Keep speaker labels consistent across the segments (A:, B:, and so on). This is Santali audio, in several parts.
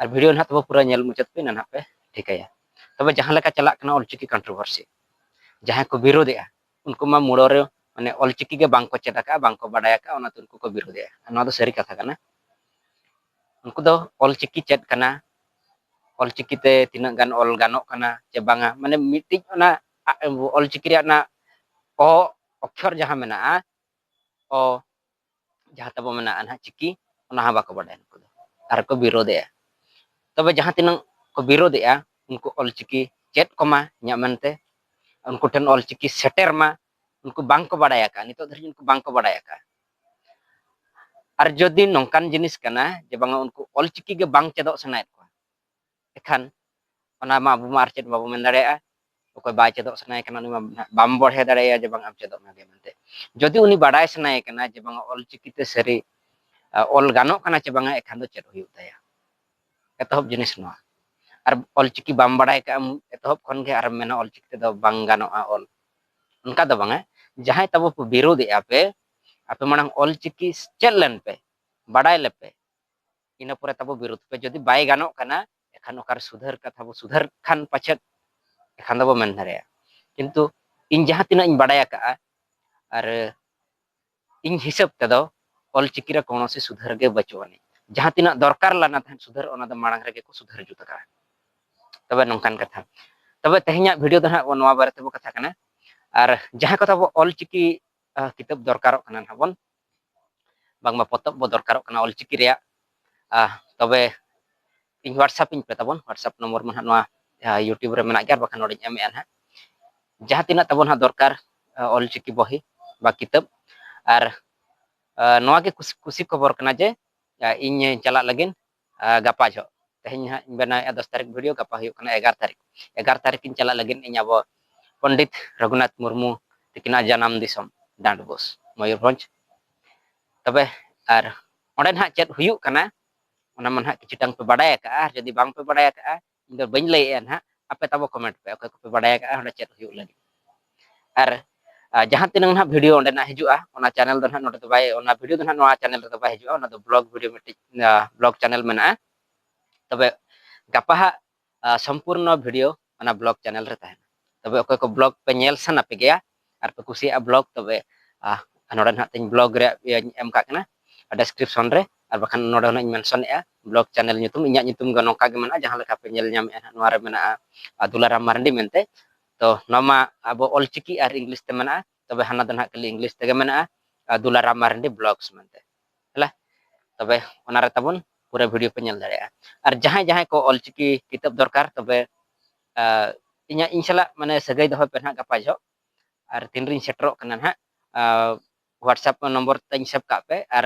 A: ᱟᱨ ᱵᱷᱤᱰᱤᱭᱳ ᱱᱟᱦᱟᱜ ᱛᱚᱵᱮ ᱯᱩᱨᱟᱹ ᱧᱮᱞ ᱢᱩᱪᱟᱹᱫ ᱯᱮ ᱱᱟᱦᱟᱜ ᱯᱮ ᱴᱷᱤᱠᱟᱹᱭᱟ ᱛᱚᱵᱮ ᱡᱟᱦᱟᱸ ᱞᱮᱠᱟ ᱪᱟᱞᱟᱜ ᱠᱟᱱᱟ ᱚᱞᱪᱤᱠᱤ ᱠᱚᱱᱴᱨᱳᱵᱷᱟᱨᱥᱤ ᱡᱟᱦᱟᱸᱭ ᱠᱚ ᱵᱤᱨᱳᱫᱮᱜᱼᱟ ᱩᱱᱠᱩ ᱢᱟ ᱢᱩᱲᱚ ᱨᱮ ᱢᱟᱱᱮ ᱚᱞᱪᱤᱠᱤ ᱜᱮ ᱵᱟᱝ ᱠᱚ ᱪᱮᱫ ᱟᱠᱟᱫᱼᱟ ᱵᱟᱝ ᱠᱚ ᱵᱟᱰᱟᱭ ᱟᱠᱟᱫᱼᱟ ᱚᱱᱟᱛᱮ ᱩᱱᱠᱩ ᱠᱚ ᱵᱤᱨᱳᱫᱮᱜᱼᱟ ᱱᱚᱣᱟ ᱫᱚ ᱥᱟᱹᱨᱤ ᱠᱟᱛᱷᱟ ᱠᱟᱱᱟ ᱩᱱᱠᱩ ᱫᱚ ᱚᱞᱪᱤᱠᱤ ᱪᱮᱫ ᱠᱟᱱᱟ ᱚᱞᱪᱤᱠᱤ ᱛᱮ ᱛᱤᱱᱟᱹᱜ ᱜᱟᱱ ᱚᱞ ᱜᱟᱱᱚᱜ ᱠᱟᱱᱟ ᱪᱮ ᱵᱟᱝᱟ ᱢᱟᱱᱮ ᱢᱤᱫᱴᱤᱡ ᱚᱱᱟ ᱚᱞᱪᱤᱠᱤ ᱨᱮᱭᱟᱜ ᱚᱱᱟ ᱚ ᱚᱠᱠᱷᱚᱨ ᱡᱟᱦᱟᱸ ᱢᱮᱱᱟᱜᱼᱟ ᱚ ᱡᱟᱦᱟᱸ ᱛᱟᱵᱚ ᱢᱮᱱᱟᱜᱼᱟ ᱱᱟᱦᱟᱜ ᱪᱤᱠᱤ ᱚᱱᱟ ᱦᱚᱸ ᱵᱟᱠᱚ ᱵᱟᱰᱟᱭᱟ ᱱᱩᱠᱩ ᱫᱚ ᱟᱨ ᱠᱚ ᱵᱤᱨᱳᱫᱮᱜᱼᱟ ᱛᱚᱵᱮ ᱡᱟᱦᱟᱸ ᱛᱤᱱᱟᱹᱜ ᱠᱚ ᱵᱤᱨᱳᱫᱮᱜᱼᱟ ᱩᱱᱠᱩ ᱚᱞᱪᱤᱠᱤ ᱪᱮᱫ ᱠᱚᱢᱟ ᱤᱧᱟᱹᱜ ᱢᱮᱱᱛᱮ ᱩᱱᱠᱩ ᱴᱷᱮᱱ ᱚᱞᱪᱤᱠᱤ ᱥᱮᱴᱮᱨ ᱢᱟ ᱩᱱᱠᱩ ᱵᱟᱝᱠᱚ ᱵᱟᱰᱟᱭ ᱟᱠᱟᱫᱼᱟ ᱱᱤᱛᱚᱜ ᱫᱷᱟᱹᱨᱤᱡ ᱩᱱᱠᱩ ᱵᱟᱝᱠᱚ ᱵᱟᱰᱟᱭ ᱟᱠᱟᱫᱼᱟ ᱟᱨ ᱡᱩᱫᱤ ᱱᱚᱝᱠᱟᱱ ᱡᱤᱱᱤᱥ ᱠᱟᱱᱟ ᱡᱮ ᱵᱟᱝᱟ ᱩᱱᱠᱩ ᱚᱞᱪᱤᱠᱤ ᱜᱮ ᱵᱟᱝ ᱪᱮᱫᱚᱜ ᱥᱟᱱᱟᱭᱮᱫ ᱠᱚᱣᱟ ᱮᱠᱷᱟᱱ ᱚᱱᱟ ᱢᱟ ᱟᱵᱚ ᱢᱟ ᱟᱨ ᱪᱮᱫ ᱵᱟᱵᱚ ᱢᱮᱱ ᱫᱟᱲᱮᱭᱟᱜᱼᱟ ᱚᱠᱚᱭ ᱵᱟᱭ ᱪᱮᱫᱚᱜ ᱥᱟᱱᱟᱭᱮ ᱠᱟᱱᱟ ᱩᱱᱤ ᱢᱟ ᱵᱟᱢ ᱵᱚᱲᱦᱮ ᱫᱟᱲᱮᱭᱟᱭᱟ ᱡᱮ ᱵᱟᱝ ᱟᱢ ᱪᱮᱫᱚᱜ ᱢᱮ ᱢᱮᱱᱛᱮ ᱡᱩᱫᱤ ᱩᱱᱤ ᱵᱟᱰᱟᱭ ᱥᱟᱱᱟᱭᱮ ᱠᱟᱱᱟ ᱡᱮ ᱵᱟᱝ ᱚᱞᱪᱤᱠᱤ ᱛᱮ ᱥᱟᱹᱨᱤ ᱚᱞ ᱜᱟᱱᱚᱜ ᱠᱟᱱᱟ ᱪᱮ ᱵᱟᱝᱟ ᱮᱠᱷᱟᱱ ᱫᱚ ᱪᱮᱫ ᱦᱩᱭᱩᱜ ᱛᱟᱭᱟ ᱮᱛᱚᱦᱚᱵ ᱡᱤᱱᱤᱥ ᱱᱚᱣᱟ ᱟᱨ ᱚᱞᱪᱤᱠᱤ ᱵᱟᱢ ᱵᱟᱰᱟᱭ ᱠᱟᱜᱼᱟᱢ ᱮᱛᱚᱦᱚᱵ ᱠᱷᱚᱱ ᱜᱮ ᱟᱨᱮᱢ ᱢᱮᱱᱟ ᱚᱞᱪᱤᱠᱤ ᱛᱮᱫᱚ ᱵᱟᱝ ᱜᱟᱱᱚᱜᱼᱟ ᱚᱞ ᱚᱱᱠᱟ ᱫᱚ ᱵᱟᱝᱟ ᱡᱟᱦᱟᱸᱭ ᱛᱟᱵᱚ ᱯᱮ ᱵᱤᱨᱳᱫᱮᱜᱼᱟ ᱯᱮ ᱟᱯᱮ ᱢᱟᱲᱟᱝ ᱚᱞᱪᱤᱠᱤ ᱪᱮᱫ ᱞᱮᱱ ᱯᱮ ᱵᱟᱰᱟᱭ ᱞᱮᱯᱮ ᱤᱱᱟᱹ ᱯᱚᱨᱮ ᱛᱟᱵᱚ ᱵᱤᱨᱳᱫᱷ ᱯᱮ ᱡᱩᱫᱤ ᱵᱟᱭ ᱜᱟᱱᱚᱜ ᱠᱟᱱᱟ ᱮᱠᱷᱟᱱ ᱚᱠᱟᱨᱮ ᱥᱩᱫᱷᱟᱹᱨ ᱠᱟᱛᱷᱟ ᱵᱚ ᱥᱩᱫᱷᱟᱹᱨ ᱠᱷᱟᱱ ᱯᱟᱪᱮᱫ ᱮᱠᱷᱟᱱ ᱫᱚᱵᱚ ᱢᱮᱱ ᱫᱟᱲᱮᱭᱟᱜᱼᱟ ᱠᱤᱱᱛᱩ ᱤᱧ ᱡᱟᱦᱟᱸ ᱛᱤᱱᱟᱹᱜ ᱤᱧ ᱵᱟᱰᱟᱭ ᱟᱠᱟᱜᱼᱟ ᱟᱨ ᱤᱧ ᱦᱤᱥᱟᱹᱵ ᱛᱮᱫᱚ ᱚᱞᱪᱤᱠᱤ ᱨᱮ ᱠᱳᱱᱳ ᱥᱮ ᱥᱩᱫᱷᱟᱹᱨ ᱜᱮ ᱵᱟᱹᱪᱩᱜ ᱟᱹᱱᱤᱡ ᱡᱟᱦᱟᱸ ᱛᱤᱱᱟᱹᱜ ᱫᱚᱨᱠᱟᱨ ᱞᱟᱱᱟ ᱛᱟᱦᱮᱸ ᱥᱩᱫᱷᱟᱹᱨ ᱚᱱᱟ ᱫᱚ ᱢᱟᱲᱟᱝ ᱨᱮᱜᱮ ᱠᱚ ᱥᱩᱫᱷᱟᱹᱨ ᱡᱩᱛ ᱟᱠᱟᱜᱼᱟ ᱛᱚᱵᱮ ᱱᱚᱝᱠᱟᱱ ᱠᱟᱛᱷᱟ ᱛᱚᱵᱮ ᱛᱮᱦᱮᱧᱟᱜ ᱵᱷᱤᱰᱤᱭᱳ ᱫᱚ ᱦᱟᱸᱜ ᱱᱚᱣᱟ ᱵᱟᱨᱮ ᱛᱮᱵᱚ ᱠᱟᱛᱷᱟ ᱠᱟᱱᱟ ᱟᱨ ᱡᱟᱦᱟᱸ ᱠᱚ ᱛᱟᱵᱚ ᱚᱞᱪᱤᱠᱤ ᱠᱤᱛᱟᱹᱵ ᱫᱚᱨᱠᱟᱨᱚᱜ ᱠᱟᱱᱟ ᱱᱟᱦᱟᱜ ᱵᱚᱱ ᱵᱟᱝᱢᱟ ᱯᱚᱛᱚᱵ ᱵᱚ ᱫᱚᱨᱠᱟᱨᱚᱜ ᱠᱟᱱᱟ ᱚᱞᱪᱤᱠᱤ ᱨᱮᱭᱟᱜ ᱛᱚᱵᱮ ᱤᱧ ᱦᱳᱣᱟᱴᱥᱟᱯ ᱤᱧ ᱯᱮ ᱛᱟᱵᱚᱱ ᱦᱳᱣᱟᱴᱥᱟᱯ ᱱᱚᱢᱵᱚᱨ ᱢᱟ ᱦᱟᱸᱜ ᱱᱚᱣᱟ ᱭᱩᱴᱩᱵᱽ ᱨᱮ ᱢᱮᱱᱟᱜ ᱜᱮᱭᱟ ᱵᱟᱠᱷᱟᱱ ᱱᱚᱰᱮᱧ ᱮᱢᱮᱫᱼᱟ ᱱᱟᱦᱟᱜ ᱡᱟᱦᱟᱸ ᱛᱤᱱᱟᱹᱜ ᱛᱟᱵᱚᱱ ᱦᱟᱸᱜ ᱫᱚᱨᱠᱟᱨ ᱚᱞᱪᱤᱠᱤ ᱵᱚᱦᱤ ᱵᱟ ᱠᱤᱛᱟᱹᱵ ᱟᱨ ᱱᱚᱣᱟ ᱜᱮ ᱠᱩᱥᱤ ᱠᱷᱚᱵᱚᱨ ᱠᱟᱱᱟ ᱡᱮ ᱤᱧ ᱪᱟᱞᱟᱜ ᱞᱟᱹᱜᱤᱫ ᱜᱟᱯᱟ ᱡᱚᱜ ᱛᱮᱦᱮᱧ ᱦᱟᱸᱜ ᱤᱧ ᱵᱮᱱᱟᱣᱮᱫᱼᱟ ᱫᱚᱥ ᱛᱟᱹᱨᱤᱠᱷ ᱵᱷᱤᱰᱤᱭᱳ ᱜᱟᱯᱟ ᱦᱩᱭᱩᱜ ᱠᱟᱱᱟ ᱮᱜᱟᱨ ᱛᱟᱹᱨᱤᱠᱷ ᱮᱜᱟᱨ ᱛᱟᱹᱨᱤᱠᱷ ᱤᱧ ᱪᱟᱞᱟᱜ ᱞᱟᱹᱜᱤᱫ ᱤᱧ ᱟᱵᱚ ᱯᱚᱱᱰᱤᱛ ᱨᱚᱜᱷᱩᱱᱟᱛᱷ ᱢᱩᱨᱢᱩ ᱛᱤᱠᱤᱱᱟᱜ ᱡᱟᱱᱟᱢ ᱫᱤᱥᱚᱢ ᱰᱟᱸᱰᱵᱳᱥ ᱢᱚᱭᱩᱨᱵᱷᱚᱸᱡᱽ ᱛᱚᱵᱮ ᱟᱨ ᱚᱸᱰᱮ ᱱᱟᱦᱟᱜ ᱪᱮᱫ ᱦᱩᱭᱩᱜ ᱠᱟᱱᱟ ᱚᱱᱟ ᱢᱟ ᱱᱟᱦᱟᱜ ᱠᱤᱪᱷᱩᱴᱟᱝ ᱯᱮ ᱵᱟᱰᱟᱭ ᱟᱠᱟᱜᱼᱟ ᱟᱨ ᱡᱩᱫᱤ ᱵᱟᱝ ᱯᱮ ᱵᱟᱰᱟᱭ ᱟᱠᱟᱜᱼᱟ ᱤᱧ ᱫᱚ ᱵᱟᱹᱧ ᱞᱟᱹᱭᱮᱫᱼᱟ ᱱᱟᱦᱟᱜ ᱟᱯᱮ ᱛᱟᱵᱚ ᱠᱚᱢᱮᱱᱴ ᱯᱮ ᱚᱠᱚᱭ ᱠᱚᱯᱮ ᱵᱟᱰᱟᱭ ᱟᱠᱟᱫᱼᱟ ᱚᱸᱰᱮ ᱪᱮᱫ ᱦᱩᱭᱩᱜ ᱞᱟᱹᱜᱤᱫ ᱟᱨ ᱡᱟᱦᱟᱸ ᱛᱤᱱᱟᱹᱜ ᱱᱟᱦᱟᱜ ᱵᱷᱤᱰᱤᱭᱳ ᱚᱸᱰᱮ ᱱᱟᱜ ᱦᱤᱡᱩᱜᱼᱟ ᱚᱱᱟ ᱪᱮᱱᱮᱞ ᱫᱚ ᱱᱟᱦᱟᱜ ᱱᱚᱰᱮ ᱫᱚ ᱵᱟᱭ ᱚᱱᱟ ᱵᱷᱤᱰᱤᱭᱳ ᱫᱚ ᱱᱟᱦᱟᱜ ᱱᱚᱣᱟ ᱪᱮᱱᱮᱞ ᱨᱮᱫᱚ ᱵᱟᱭ ᱦᱤᱡᱩᱜᱼᱟ ᱚᱱᱟ ᱫᱚ ᱵᱞᱚᱜ ᱵᱷᱤᱰᱤᱭᱳ ᱢᱤᱫᱴᱤᱡ ᱵᱞᱚᱜ ᱪᱮᱱᱮᱞ ᱢᱮᱱᱟᱜᱼᱟ ᱛᱚᱵᱮ ᱜᱟᱯᱟ ᱦᱟᱜ ᱥᱚᱢᱯᱩᱨᱱᱚ ᱵᱷᱤᱰᱤᱭᱳ ᱚᱱᱟ ᱵᱞᱚᱜ ᱪᱮᱱᱮᱞ ᱨᱮ ᱛᱟᱦᱮᱱᱟ ᱛᱚᱵᱮ ᱚᱠᱚᱭ ᱠᱚ ᱵᱞᱚᱜ ᱯᱮ ᱧᱮᱞ ᱥᱟᱱᱟ ᱯᱮ ᱜᱮᱭᱟ ᱟᱨ ᱯᱮ ᱠᱩᱥᱤᱭᱟᱜᱼᱟ ᱵᱞᱚᱜ ᱛᱚᱵᱮ ᱱᱚᱰᱮ ᱱᱟᱦᱟᱜ ᱛᱤᱧ ᱵᱞᱚᱜ ᱨᱮᱭᱟᱜ ᱤᱭᱟᱹᱧ ᱮᱢ ᱠᱟᱜ ᱠᱟᱱᱟ ᱰᱮᱥᱠᱨᱤᱯᱥᱚᱱ ᱨᱮ ᱟᱨ ᱵᱟᱠᱷᱟᱱ ᱱᱚᱰᱮ ᱦᱚᱸ ᱤᱧ ᱢᱮᱱᱥᱚᱱᱮᱜᱼᱟ ᱵᱞᱚᱜ ᱪᱮᱱᱮᱞ ᱧᱩᱛᱩᱢ ᱤᱧᱟᱹᱜ ᱧᱩᱛᱩᱢ ᱜᱮ ᱱᱚᱝᱠᱟ ᱜᱮ ᱢᱮᱱᱟᱜᱼᱟ ᱡᱟᱦᱟᱸ ᱞᱮᱠᱟ ᱯᱮ ᱧᱮᱞ ᱧᱟᱢᱮᱜᱼᱟ ᱱᱟᱦᱟᱜ ᱱᱚᱣᱟ ᱨᱮ ᱢᱮᱱᱟᱜᱼᱟ ᱫᱩᱞᱟᱨᱟᱢ ᱢᱟᱨᱟᱱᱰᱤ ᱢᱮᱱᱛᱮ ᱛᱚ ᱱᱚᱣᱟ ᱢᱟ ᱟᱵᱚ ᱚᱞᱪᱤᱠᱤ ᱟᱨ ᱤᱝᱞᱤᱥ ᱛᱮ ᱢᱮᱱᱟᱜᱼᱟ ᱛᱚᱵᱮ ᱦᱟᱱᱟ ᱫᱚ ᱱᱟᱦᱟᱜ ᱠᱷᱟᱹᱞᱤ ᱤᱝᱞᱤᱥ ᱛᱮᱜᱮ ᱢᱮᱱᱟᱜᱼᱟ ᱫᱩᱞᱟᱨᱟᱢ ᱢᱟᱨᱟᱱᱰᱤ ᱵᱞᱚᱜᱥ ᱢᱮᱱᱛᱮ ᱦᱮᱞᱟ ᱛᱚᱵᱮ ᱚᱱᱟ ᱨᱮ ᱛᱟᱵᱚᱱ ᱯᱩᱨᱟᱹ ᱵᱷᱤᱰᱤᱭᱳ ᱯᱮ ᱧᱮᱞ ᱫᱟᱲᱮᱭᱟᱜᱼᱟ ᱟᱨ ᱡᱟᱦᱟᱸᱭ ᱡᱟᱦᱟᱸᱭ ᱠᱚ ᱚᱞᱪᱤᱠᱤ ᱠᱤᱛᱟᱹᱵ ᱫᱚᱨᱠᱟᱨ ᱛᱚᱵᱮ ᱤᱧᱟᱹᱜ ᱤᱧ ᱥᱟᱞᱟᱜ ᱢᱟᱱᱮ ᱥᱟᱹᱜᱟᱹᱭ ᱫᱚᱦᱚᱭ ᱯᱮ ᱱᱟᱦᱟᱜ ᱜᱟᱯᱟ ᱡᱚᱦᱚᱜ ᱟᱨ ᱛᱤᱱ ᱨᱤᱧ ᱥᱮᱴᱮᱨᱚᱜ ᱠᱟᱱᱟ ᱱᱟᱦᱟᱜ ᱦᱳᱣᱟᱴᱥᱮᱯ ᱱᱚᱢᱵᱚᱨ ᱛᱟᱹᱧ ᱥᱮᱵᱽ ᱠᱟᱜ ᱯᱮ ᱟᱨ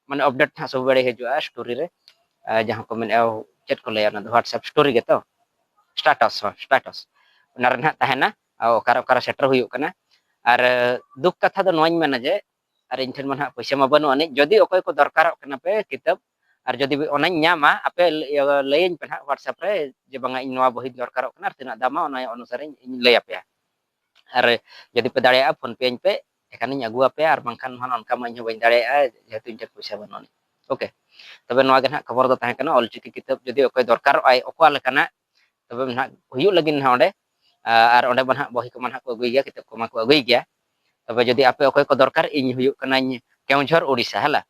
A: ᱢᱟᱱᱮ ᱟᱯᱰᱮᱴ ᱱᱟᱦᱟᱜ ᱥᱚᱵ ᱵᱮᱲᱮ ᱦᱤᱡᱩᱜᱼᱟ ᱥᱴᱳᱨᱤ ᱨᱮ ᱡᱟᱦᱟᱸ ᱠᱚ ᱢᱮᱱᱮᱜᱼᱟ ᱪᱮᱫ ᱠᱚ ᱞᱟᱹᱭᱟ ᱚᱱᱟ ᱫᱚ ᱦᱳᱣᱟᱴᱥᱮᱯ ᱥᱴᱳᱨᱤ ᱜᱮᱛᱚ ᱥᱴᱟᱴᱟᱥ ᱦᱚᱸ ᱥᱴᱟᱴᱟᱥ ᱚᱱᱟ ᱨᱮ ᱱᱟᱦᱟᱜ ᱛᱟᱦᱮᱱᱟ ᱚᱠᱟᱨᱮ ᱚᱠᱟᱨᱮ ᱥᱮᱴᱮᱨ ᱦᱩᱭᱩᱜ ᱠᱟᱱᱟ ᱟᱨ ᱫᱩᱠ ᱠᱟᱛᱷᱟ ᱫᱚ ᱱᱚᱣᱟᱧ ᱢᱮᱱᱟ ᱡᱮ ᱟᱨ ᱤᱧ ᱴᱷᱮᱱ ᱢᱟ ᱱᱟᱦᱟᱜ ᱯᱚᱭᱥᱟ ᱢᱟ ᱵᱟᱹᱱᱩᱜ ᱟᱹᱱᱤᱡ ᱡᱩᱫᱤ ᱚᱠᱚᱭ ᱠᱚ ᱫᱚᱨᱠᱟᱨᱚᱜ ᱠᱟᱱᱟ ᱯᱮ ᱠᱤᱛᱟᱹᱵ ᱟᱨ ᱡᱩᱫᱤ ᱚᱱᱟᱧ ᱧᱟᱢᱟ ᱟᱯᱮ ᱞᱟᱹᱭᱟᱹᱧ ᱯᱮ ᱱᱟᱦᱟᱜ ᱦᱳᱣᱟᱴᱥᱮᱯ ᱨᱮ ᱡᱮ ᱵᱟᱝᱟ ᱤᱧ ᱱᱚᱣᱟ ᱵᱚᱦᱤ ᱫᱚᱨᱠᱟᱨᱚᱜ ᱠᱟᱱᱟ ᱟᱨ ᱛᱤᱱᱟᱹᱜ ᱫᱟᱢᱟ ᱚᱱᱟ ᱚᱱᱩᱥᱟᱨ ᱤᱧ ᱞᱟᱹᱭ ᱟᱯᱮᱭᱟ ᱟᱨ ᱡᱩᱫᱤ ᱯᱮ ᱫᱟᱲᱮᱭᱟᱜᱼᱟ ᱯᱷᱳᱱ ᱯᱮ ᱟᱹᱧ ᱯᱮ ᱮᱠᱷᱟᱱᱤᱧ ᱟᱹᱜᱩ ᱟᱯᱮᱭᱟ ᱟᱨ ᱵᱟᱝᱠᱷᱟᱱ ᱱᱟᱦᱟᱜ ᱚᱱᱠᱟ ᱢᱟ ᱤᱧ ᱦᱚᱸ ᱵᱟᱹᱧ ᱫᱟᱲᱮᱭᱟᱜᱼᱟ ᱡᱮᱦᱮᱛᱩ ᱤᱧ ᱴᱷᱮᱱ ᱯᱚᱭᱥᱟ ᱵᱟᱹᱱᱩᱜ ᱟᱹᱱᱤᱡ ᱳᱠᱮ ᱛᱚᱵᱮ ᱱᱚᱣᱟ ᱜᱮ ᱱᱟᱦᱟᱜ ᱠᱷᱚᱵᱚᱨ ᱫᱚ ᱛᱟᱦᱮᱸ ᱠᱟᱱᱟ ᱚᱞᱪᱤᱠᱤ ᱠᱤᱛᱟᱹᱵ ᱡᱩᱫᱤ ᱚᱠᱚᱭ ᱫᱚᱨᱠᱟᱨᱚᱜᱼᱟᱭ ᱚᱠᱟ ᱞᱮᱠᱟᱱᱟᱜ ᱛᱚᱵᱮ ᱱᱟᱦᱟᱜ ᱦᱩᱭᱩᱜ ᱞᱟᱹᱜᱤᱫ ᱱᱟᱦᱟᱜ ᱚᱸᱰᱮ ᱟᱨ ᱚᱸᱰᱮ ᱢᱟ ᱱᱟᱦᱟᱜ ᱵᱚᱦᱤ ᱠᱚᱢᱟ ᱱᱟᱦᱟᱜ ᱠᱚ ᱟᱹᱜᱩᱭ ᱜᱮᱭᱟ ᱠᱤᱛᱟᱹᱵ ᱠᱚᱢᱟ ᱠᱚ ᱟᱹᱜᱩᱭ ᱜᱮᱭᱟ ᱛᱚᱵᱮ ᱡᱩᱫᱤ ᱟᱯᱮ ᱚᱠᱚᱭ ᱠᱚ ᱫᱚᱨᱠᱟᱨ ᱤᱧ ᱦᱩᱭᱩᱜ ᱠᱟᱹᱱᱟᱹᱧ ᱠᱮᱣᱡᱷᱚᱨ ᱳᱰᱤᱥᱟ ᱦᱮᱞᱟ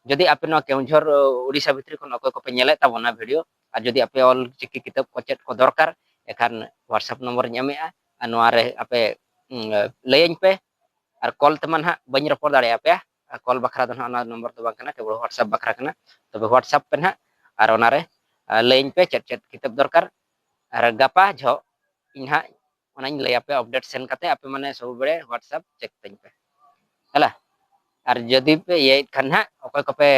A: ᱡᱩᱫᱤ ᱟᱯᱮ ᱱᱚᱣᱟ ᱠᱮᱣᱡᱷᱚᱨ ᱳᱰᱤᱥᱟ ᱵᱷᱤᱛᱨᱤ ᱠᱷᱚᱱ ᱚᱠᱚᱭ ᱠᱚᱯᱮ ᱧᱮᱞᱮᱫ ᱛᱟᱵᱚᱱᱟ ᱵᱷᱤᱰᱤᱭᱳ ᱟᱨ ᱡᱩᱫᱤ ᱟᱯᱮ ᱚᱞ ᱪᱤᱠᱤ ᱠᱤᱛᱟᱹᱵ ᱠᱚ ᱪᱮᱫ ᱠᱚ ᱫᱚᱨᱠᱟᱨ ᱮᱠᱷᱟᱱ ᱦᱳᱣᱟᱴᱥᱮᱯ ᱱᱚᱢᱵᱚᱨ ᱤᱧ ᱮᱢᱮᱜᱼᱟ ᱟᱨ ᱱᱚᱣᱟ ᱨᱮ ᱟᱯᱮ ᱞᱟᱹᱭᱟᱹᱧ ᱯᱮ ᱟᱨ ᱠᱚᱞ ᱛᱮᱢᱟ ᱱᱟᱦᱟᱜ ᱵᱟᱹᱧ ᱨᱚᱯᱚᱲ ᱫᱟᱲᱮᱭᱟᱯᱮᱭᱟ ᱠᱚᱞ ᱵᱟᱠᱷᱨᱟ ᱫᱚ ᱱᱟᱦᱟᱜ ᱚᱱᱟ ᱱᱚᱢᱵᱚᱨ ᱫᱚ ᱵᱟᱝ ᱠᱟᱱᱟ ᱠᱮᱵᱚᱞ ᱦᱳᱣᱟᱴᱥᱟᱯ ᱵᱟᱠᱷᱨᱟ ᱠᱟᱱᱟ ᱛᱚᱵᱮ ᱦᱳᱣᱟᱴᱥᱟᱯ ᱯᱮ ᱱᱟᱦᱟᱜ ᱟᱨ ᱚᱱᱟᱨᱮ ᱞᱟᱹᱭᱟᱹᱧ ᱯᱮ ᱪᱮᱫ ᱪᱮᱫ ᱠᱤᱛᱟᱹᱵ ᱫᱚᱨᱠᱟᱨ ᱟᱨ ᱜᱟᱯᱟ ᱡᱷᱚᱜ ᱤᱧ ᱱᱟᱦᱟᱜ ᱚᱱᱟᱧ ᱞᱟᱹᱭᱟᱯᱮ ᱟᱯᱰᱮᱴ ᱥᱮᱱ ᱠᱟᱛᱮ ᱟᱯᱮ ᱢᱟᱱᱮ ᱥᱚᱵ ᱵᱮᱲᱮ ᱦᱳᱣᱟᱴᱥᱟᱯ ᱪᱮᱠ ᱛᱟᱹᱧ ᱯᱮ ᱦᱮᱞᱟ ᱟᱨ ᱡᱩᱫᱤ ᱯᱮ ᱤᱭᱟᱹᱭᱮᱫ ᱠᱷᱟᱱ ᱱᱟᱦᱟᱜ ᱚᱠᱚᱭ ᱠᱚᱯᱮ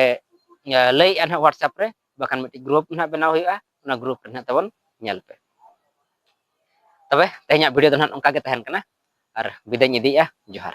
A: ᱞᱟᱹᱭᱮᱫᱼᱟ ᱱᱟᱦᱟᱜ ᱦᱳᱣᱟᱴᱥᱟᱯ ᱨᱮ ᱵᱟᱠᱷᱟᱱ ᱢᱤᱫᱴᱤᱡ ᱜᱨᱩᱯ ᱱᱟᱦᱟᱜ ᱵᱮᱱᱟᱣ ᱦᱩᱭᱩᱜᱼᱟ ᱚᱱᱟ ᱜᱨᱩᱯ ᱨᱮ ᱱᱟᱦᱟᱜ ᱛᱟᱵᱚᱱ ᱧᱮᱞ ᱯᱮ ᱛᱚᱵᱮ ᱛᱮᱦᱮᱧᱟᱜ ᱵᱷᱤᱰᱤᱭᱳ ᱫᱚ ᱱᱟᱦᱟᱜ ᱚᱱᱠᱟ ᱜᱮ ᱛᱟᱦᱮᱱ ᱠᱟᱱᱟ ᱟᱨ ᱵᱤᱫᱟᱹᱧ ᱤᱫᱤᱭᱮᱫᱼᱟ ᱡᱚᱦᱟᱨ